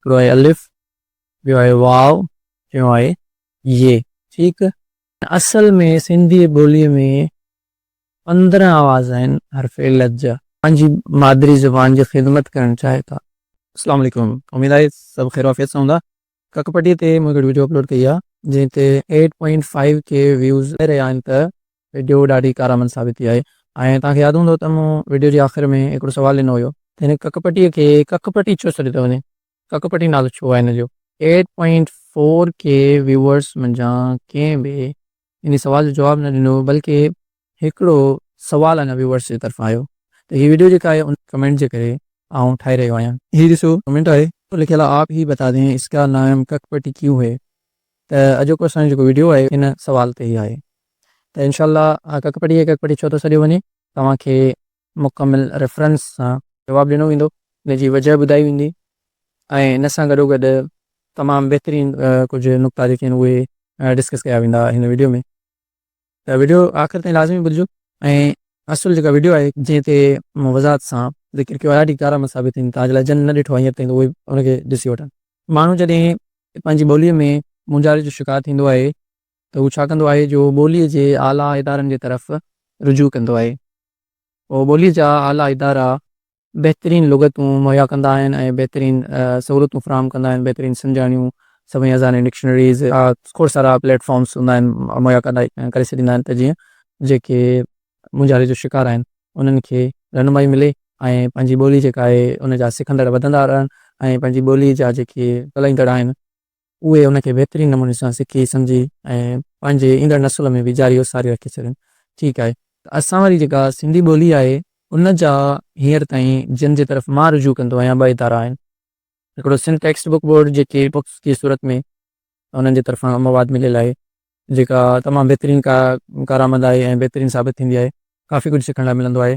هڪڙو آهي الف، ٻيو آهي واو، ٽيون آهي يي. ٺيڪ. اصل ۾ سنڌي ٻوليء ۾ پندرهن آواز آهن حرف علت جا. پنهنجي مادري زبان جي خدمت ڪرڻ چاهي ٿا. اسلام عليڪم اميد آهي سڀ خير وعافيت سان هوندا ڪڪ پٽي تي مون هڪڙي وڊيو اپلوڊ ڪئي آهي جنهن تي eight point five K views رهيا آهن ته ويڊيو ڏاڍي ڪارآمد ثابت ٿي آهي ۽ توهان کي ياد هوندو ته مون ويڊيو جي آخر ۾ هڪڙو سوال ڏنو هيو ته هن ڪک پٽي کي ڪک پٽي ڇو سڏيو ٿو وڃي؟ ڪک پٽي نالو ڇو آهي هن جو؟ Eight point four K viewers منجهان ڪنهن به ان سوال جو جواب نه ڏنو بلڪه هڪڙو سوال اڃا ويوئرز جي طرفان آيو ته هي ويڊيو جيڪا آهي ان ڪمينٽ جي ڪري آئون ٺاهي رهيو آهيان. هي ڏسو ڪمينٽ آهي. لکيل آهي، آپ هي بتا دين اس ڪا نائم ڪک پٽي ڪيون هي؟ ته اڄوڪو اسان جو جيڪو ويڊيو آهي ان سوال تي ئي آهي ته انشاء الله ڪڪ پڙهي ڪڪ پڙهي ڇو ٿو سڏيو وڃي توهان کي مڪمل ريفرنس سان جواب ڏنو ويندو ان جي وجه ٻڌائي ويندي ۽ ان سان گڏوگڏ تمام بهترين ڪجهه نقطا جيڪي آهن اهي ڊسڪس ڪيا ويندا هن ويڊيو ۾. ته وڊيو آخر تائين لازمي ٻڌجو ۽ اصل جيڪا وڊيو آهي جنهن تي مون وضاحت سان ذڪر ڪيو آهي ڏاڍي ڪارامت ثابت ٿيندي توهان جي لاء جن نه ڏٺو آهي هينئر تائين ته اهي ان کي ڏسي وٺن. ماڻهو جڏهن پنهنجي ٻوليء ۾ مونجهاري جو شڪار ٿيندو آهي ته هو ڇا ڪندو آهي جو ٻوليء جي اعليٰ ادارن جي طرف رجوع ڪندو آهي. اهو ٻوليء جا اعليٰ ادارا بهترين لغتون مهيا ڪندا آهن ۽ بهترين سهولتون فراهم ڪندا آهن، بهترين سنجاڻيون، سوين هزارين ڊڪشنريز، کوڙ سارا پليٽ فارمز هوندا آهن مهيا ڪري ڇڏيندا آهن ته جيئن جيڪي مونجهاري جو شڪار آهن انهن کي رهنمائي ملي ۽ پنهنجي ٻولي جيڪا آهي ان جا سکندڙ وڌندا رهن ۽ پنهنجي ٻولي جا جيڪي ڳالهائيندڙ آهن، اهي ان کي بهترين نموني سان سکي سمجهي ۽ پنهنجي ايندڙ نسل ۾ به جاري وساري رکي ڇڏين. ٺيڪ آهي ته اسان واري جيڪا سنڌي ٻولي آهي ان جا هينئر تائين جن جي طرف مان رجوع ڪندو آهيان ٻه ادارا آهن. هڪڙو سنڌ ٽيڪسٽ بڪ بورڊ جيڪي بڪس جي صورت ۾ انهن جي طرفان مواد مليل آهي جيڪا تمام بهترين ڪارآمد آهي ۽ بهترين ثابت ٿيندي آهي. ڪافي ڪجهه سکڻ لاء ملندو آهي.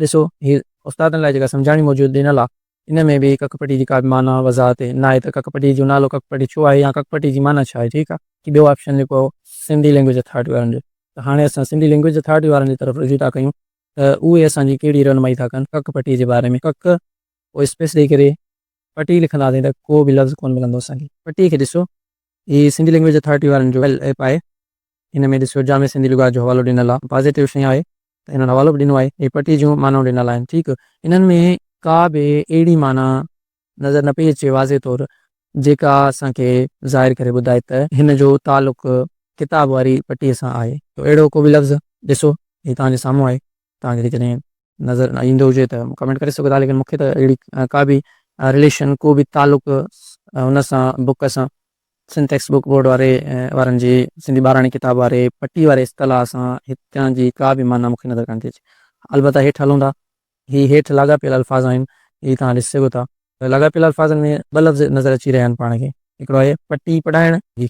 ڏسو هي استادن لاء جيڪا سمجهاڻي موجود ڏنل آ ان ۾ به ڪڪ پٽي جي ڪابه معنيٰ وضاحت ناهي ته ڪڪ پٽي جو نالو ڪڪ پٽي ڇو آهي يا ڪڪ پٽي جي معنيٰ ڇا آهي ٺيڪ آ. هي ٻيو آپشن لکو سنڌي لينگويج اٿارٽي وارن جو ته هاڻي اسان سنڌي لينگويج اٿارٽي وارن جي طرف رجوع ٿا ڪيون ته اهي اسان جي ڪهڙي رهنمائي ٿا ڪن ڪڪ پٽي جي باري ۾ ڪڪ پوء اسپيس ڏئي ڪري پٽي لکنداسين ته ڪو به لفظ ڪونه ملندو اسان کي. پٽي کي ڏسو هي سنڌي لينگويج اٿارٽي وارن جو ايپ آهي هن ۾ ڏسيو جامع سنڌي لغات جو حوالو ڏنل آهي. پازيٽو شيء آهي ته هنن حوالو به ڏنو آهي. هي پٽي جون معنائون ڏنل آهن. ٺيڪ. انهن ۾ ڪا به اهڙي معنيٰ نظر نه پئي اچي واضح طور جيڪا اسان کي ظاهر ڪري ٻڌائي ته هن جو تعلق ڪتاب واري پٽي سان آهي. اهڙو ڪو به لفظ ڏسو. هي توهان جي سامهون آهي. توهان کي جيڪڏهن نظر نه ايندو هجي ته ڪمينٽ ڪري سگهو ٿا ليڪن مون کي ته اهڙي ڪا به رليشن ڪو به تعلق ان سان بوڪ سان سنڌ ٽيڪسٽ بوڪ بورڊ واري وارن جي سنڌي ٻاراڻي ڪتاب واري پٽي واري اصطلاح سان هتان جي ڪا به معنيٰ مون کي نظر ڪانه ٿي اچي البته هيٺ هلون ٿا هي هيٺ لاڳاپيل الفاظ آهن هي توهان ڏسي سگهو ٿا لاڳاپيل الفاظن ۾ ٻه لفظ نظر اچي رهيا آهن پاڻ کي هڪڙو آهي پٽي پڙهائڻ جي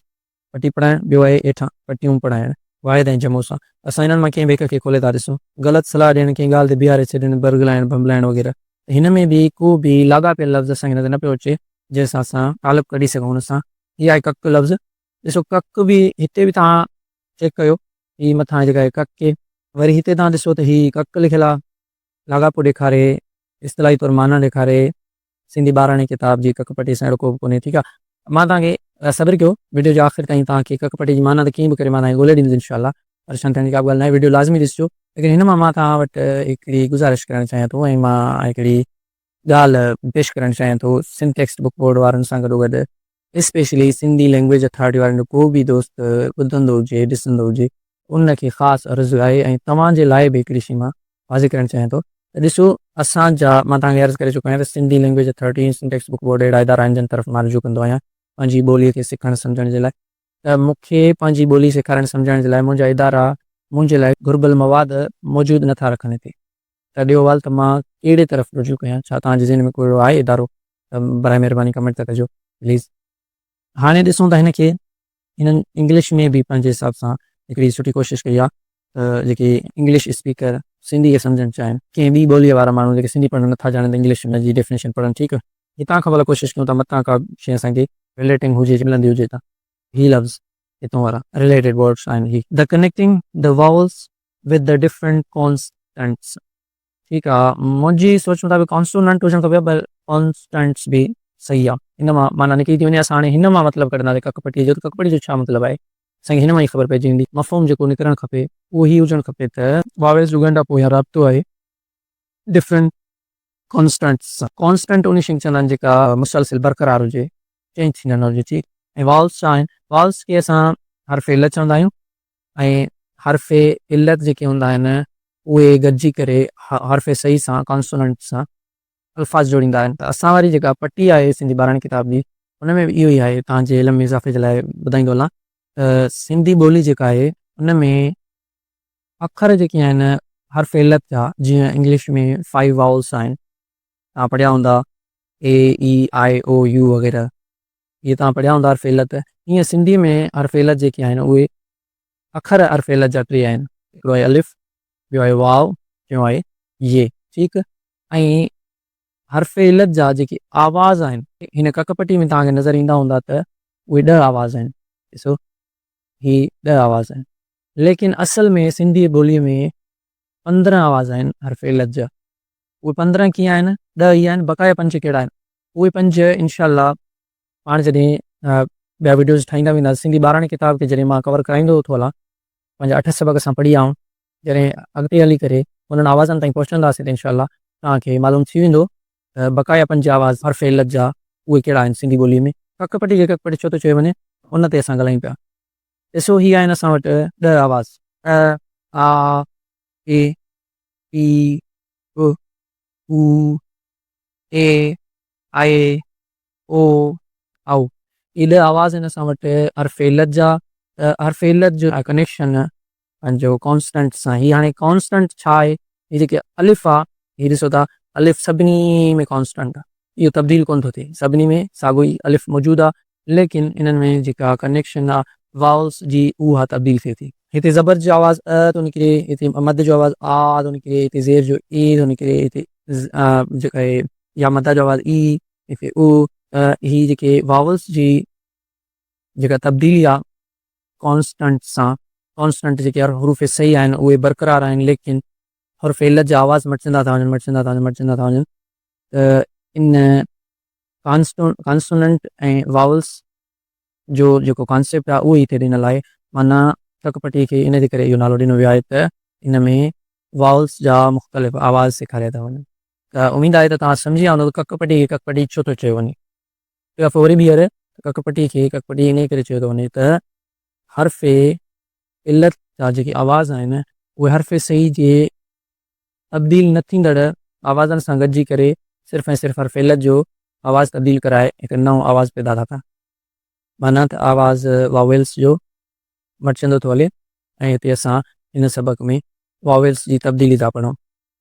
پٽي پڙهائڻ، ٻيو آهي هيٺان پٽيون پڙهائڻ. واحد ۽ جمعو سان اسان هنن مان ڪنهن به هڪ کي کولي ٿا ڏسون. غلط صلاح ڏيڻ، ڪنهن ڳالهه تي بيهاري ڇڏڻ، برغلائڻ، ڀنڀلائڻ وغيره. ته هن ۾ به ڪو به لاڳاپيل لفظ اسان کي نظر نه پيو اچي، جنهن سان اسان تعلق ڪڍي سگهون هن سان. هي آهي ڪڪ لفظ. ڏسو ڪڪ به هتي به توهان چيڪ ڪيو. هي مٿان جيڪا آهي ڪڪ. وري هتي توهان ڏسو ته هي ڪڪ لکيل آهي. لاڳاپو ڏيکاري، اصطلاحي طور معنيٰ ڏيکاري، سنڌي ٻاراڻي ڪتاب جي ڪڪ پٽي سان اهڙو ڪوبه ڪونهي، ٺيڪ آ. مان توهان کي صبر ڪيو وڊيو جي آخر تائين توهان کي ڪڪ پٽي جي معنيٰ ته ڪيئن به ڪري مان توهان کي ڳولي ڏيندس انشاء الله پريشان ٿيڻ جي ڪابه ڳالهه ناهي وڊيو لازمي ڏسجو ليڪن هن مان مان توهان وٽ هڪڙي گذارش ڪرڻ چاهيان ٿو ۽ مان هڪڙي ڳالهه پيش ڪرڻ چاهيان ٿو، سنڌ ٽيڪسٽ بڪ بورڊ وارن سان گڏوگڏ اسپيشلي سنڌي لينگويج اٿارٽي وارن جو ڪو به دوست ٻڌندو هجي ڏسندو هجي ان کي خاص عرض آهي ۽ توهان جي لاء به هڪڙي شي مان واضح ڪرڻ چاهيان ٿو ته ڏسو اسان جا مان توهان کي عرض ڪري چڪو آهيان ته Sindhi language authority ۽ Sindh textbook board اهڙا ادارا آهن جن طرف مان رجوع ڪندو آهيان پنهنجي ٻولي کي سکڻ سمجهڻ جي لاء ته مون کي پنهنجي ٻولي سيکارڻ سمجهائڻ جي لاء منهنجا ادارا منهنجي لاء گهربل مواد موجود نه ٿا رکن هتي ته ڏيو وال ته مان ڪهڙي طرف رجوع ڪيان ڇا توهان جي ذهن ۾ ڪو اهڙو آهي ادارو ته براء مهرباني ڪمينٽ ته ڪجو پليز. هاڻي ڏسون ٿا هن کي هنن انگلش ۾ به پنهنجي حساب سان هڪڙي سٺي ڪوشش ڪئي آهي ته جيڪي انگلش اسپيڪر سنڌي کي سمجهڻ چاهين. ڪنهن ٻي ٻوليء وارا ماڻهو جيڪي سنڌي پڙهڻ نه ٿا ڄاڻن ته انگلش جي ڊيفنيشن پڙهن ٺيڪ هتان کان ڀلا ڪوشش ڪيون ته متان ڪا به شيء اسان کي Relating هجي ملندي هجي ته هي لفظ هتون وارا Related Words آهن هي The Connecting the Vowels with the Different Constants ٺيڪ آ منهنجي سوچ مطابق Consonant هجڻ کپي ها پر Constants به صحيح آ ان مان معنيٰ نڪري ٿي وڃي اسان هاڻي هن مان مطلب ڪڍنداسين ڪڪ پٽي جو ته ڪڪ پٽي جو ڇا مطلب آهي اسان کي هن مان ئي خبر پئجي ويندي مفهوم جيڪو نڪرڻ کپي اهو هي هجڻ کپي ته Vowels جو ڳنڍاپو يا رابطو آهي ڊفرنٽ ڪانسٽنٽس سان ڪانسٽنٽ انهي شي کي چوندا آهن جيڪا مسلسل برقرار هجي چينج ٿيندڙ نه هجي ٺيڪ ۽ والز ڇا آهن والز کي اسان حرف علت چوندا آهيون ۽ حرف علت جيڪي هوندا آهن اهي گڏجي ڪري حرف صحيح سان ڪانسوننٽ سان الفاظ جوڙيندا آهن ته اسان واري جيڪا پٽي آهي سنڌي ٻاراڻي ڪتاب جي ان ۾ به اهو ئي آهي تان جي علم ۾ اضافي جي لاء ٻڌائيندو هلان ته سنڌي ٻولي جيڪا آهي ان ۾ اکر جيڪي آهن حرف علت جا، جيئن انگلش ۾ فائيو واولس آهن، توهان پڙهيا هوندا A، E، I، O، U وغيره، اهي توهان پڙهيا هوندا حرف علت، ايئن سنڌي ۾ حرف علت جيڪي آهن اهي اکر حرف علت جا ٽي آهن، هڪڙو آهي الف، ٻيو آهي واو، ٽيون آهي ي، ٺيڪ، ۽ حرف علت جا جيڪي آواز آهن، هن ڪڪ پٽي ۾ توهان کي نظر ايندا هوندا ته اهي ڏهه آواز آهن، ڏسو، هي ڏهه آواز آهن، ليڪن اصل ۾ سنڌي ٻوليء ۾ پندرهن آواز آهن حرف علت جا. اهي پندرهن ڪيئن آهن؟ ڏهه هي آهن، بقايا پنج ڪهڙا آهن؟ اهي پنج انشاء الله پاڻ جڏهن ٻيا وڊيوز ٺاهيندا وينداسين. سنڌي ٻاراڻي ڪتاب کي جڏهن مان ڪور ڪرائيندو ٿو هلان، پنهنجا اٺ سبق اسان پڙهي آئون، جڏهن اڳتي هلي ڪري انهن آوازن تائين پهچنداسين ته انشاء الله توهان کي معلوم ٿي ويندو ته بقايا پنج آواز حرف علت جا اهي ڪهڙا آهن سنڌي ٻوليء ۾؟ ڪڪ پٽي کي ڪڪ پٽي ڇو ٿو چيو وڃي ان تي اسان ڳالهايون پيا. ڏسو هي آهن اسان وٽ ڏهه آواز. ا، آ، اي، اي، ا، او، اي، آئي، او، آء، اهي ڏهه آواز آهن اسان وٽ حرف علت جا ته حرف علت جو ڪنيڪشن پنهنجو ڪانسٽنٽ سان هي هاڻي ڪانسٽنٽ ڇا آهي هي جيڪي الف آ هي ڏسو ٿا الف سڀني ۾ ڪانسٽنٽ آ اهو تبديل ڪونه ٿو ٿئي سڀني ۾ ساڳو ئي الف موجود آ ليڪن انهن ۾ جيڪا ڪنيڪشن آ واولس جي اها تبديل ٿئي ٿي. هتي زبر جو آواز ء ٿو نڪري هتي مد جو آواز آ ٿو نڪري هتي زير جو اي ٿو نڪري هتي ز جيڪا آهي يا مدا جو آواز اي هتي او ته هي جيڪي واولس جي جيڪا تبديلي آ ڪانسٽنٽ سان ڪانسٽنٽ جيڪي حروف صحيح آهن اهي برقرار آهن ليڪن حرف علت جا آواز مٽجندا ٿا وڃن مٽجندا ٿا وڃن مٽجندا ٿا وڃن ته ان ڪانسٽون ڪانسوننٽ ۽ واولس جو جيڪو ڪانسيپٽ آ اهو هتي ڏنل آهي معنيٰ ٽڪ پٽي کي ان جي ڪري اهو نالو ڏنو ويو آهي ته ان ۾ واولس جا مختلف آواز سيکاريا ٿا وڃن ته اميد آهي ته توهان سمجهي ويا هوندو ته ڪڪ پٽي کي ڪڪ پٽي ڇو ٿو چيو وڃي. هڪ دفعو وري ٻيهر ته ڪڪ پٽي کي ڪڪ پٽي انهيء ڪري چيو ٿو وڃي ته حرف علت جا جيڪي آواز آهن اهي حرف صحيح جي تبديل نه ٿيندڙ آوازن سان گڏجي ڪري صرف ۽ صرف حرف علت جو آواز تبديل ڪرائي هڪ نئون آواز پيدا ٿا ڪن. معنيٰ ته آواز واويلس جو مٽجندو ٿو هلي ۽ هتي اسان هن سبق ۾ واويلس جي تبديلي ٿا پڙهون.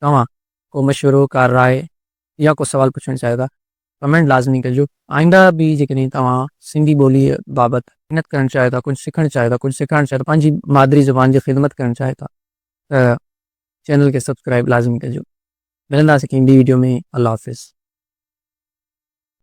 توهان ڪو مشورو ڪا راء يا ڪو سوال پڇڻ چاهيو ٿا ڪمينٽ لازمي ڪجو آئنده به جيڪڏهن توهان سنڌي ٻولي بابت محنت ڪرڻ چاهيو ٿا ڪجهه سکڻ چاهيو ٿا ڪجهه سيکارڻ چاهيو ٿا پنهنجي مادري زبان جي خدمت ڪرڻ چاهيو ٿا ته چينل کي سبسڪرائب لازمي ڪجو ملنداسين ڪنهن ٻي ويڊيو ۾ الله حافظ.